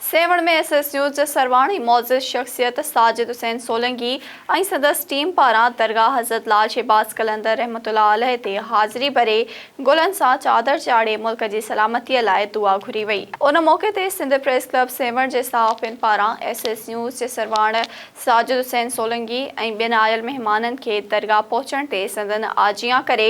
Sehwan ۾ S S news جي سرواڻي معزز شخصيت ساجد حسين سولنگي ۽ سندس ٽيم پاران درگاهه حضرت لال شهباز قلندر رحمة الله عليه تي حاضري ڀري گلن سان چادر چاڙهي ملڪ جي سلامتيء لاء دعا گهري وئي. ان موقعي تي سنڌ پريس ڪلب سيوهڻ جي صحافين پاران ايس ايس نيوز جي سرواڻ ساجد حسين سولنگي ۽ ٻين آيل مهمانن کي درگاهه پهچڻ تي سندن آجيان ڪري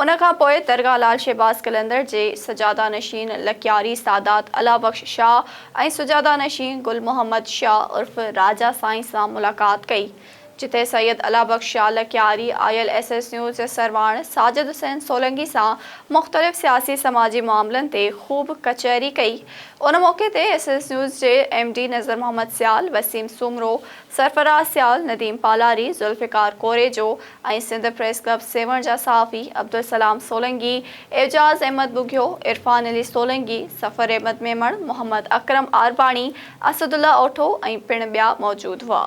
ان کان پوء درگاهه لال شهباز قلندر جي سجاده نشين لڪياري سادات الله بخش شاهه ۽ سجاده نشين گل محمد شاهه عرف راجا سائين سان ملاقات ڪئي، جتي سيد الله بخش شاهه لڪياري آيل ايس ايس نيوز جي سرواڻ ساجد حسين سولنگي سان مختلف سياسي سماجي معاملن تي خوب ڪچهري ڪئي، ان موقعي تي ايس ايس نيوز جي M D Nazar Muhammad Sial, Waseem Soomro, Sarfraz Sial, Nadeem Palari, Zulfiqar Korejo ۽ Sindh press club Sehwan جا صحافي عبدالسلام سولنگي، اعجاز احمد ٻگهيو، عرفان علي سولنگي، سفر احمد ميمڻ، محمد اڪرم عارباڻي، اسدالله اوٺو ۽ پڻ ٻيا موجود هئا.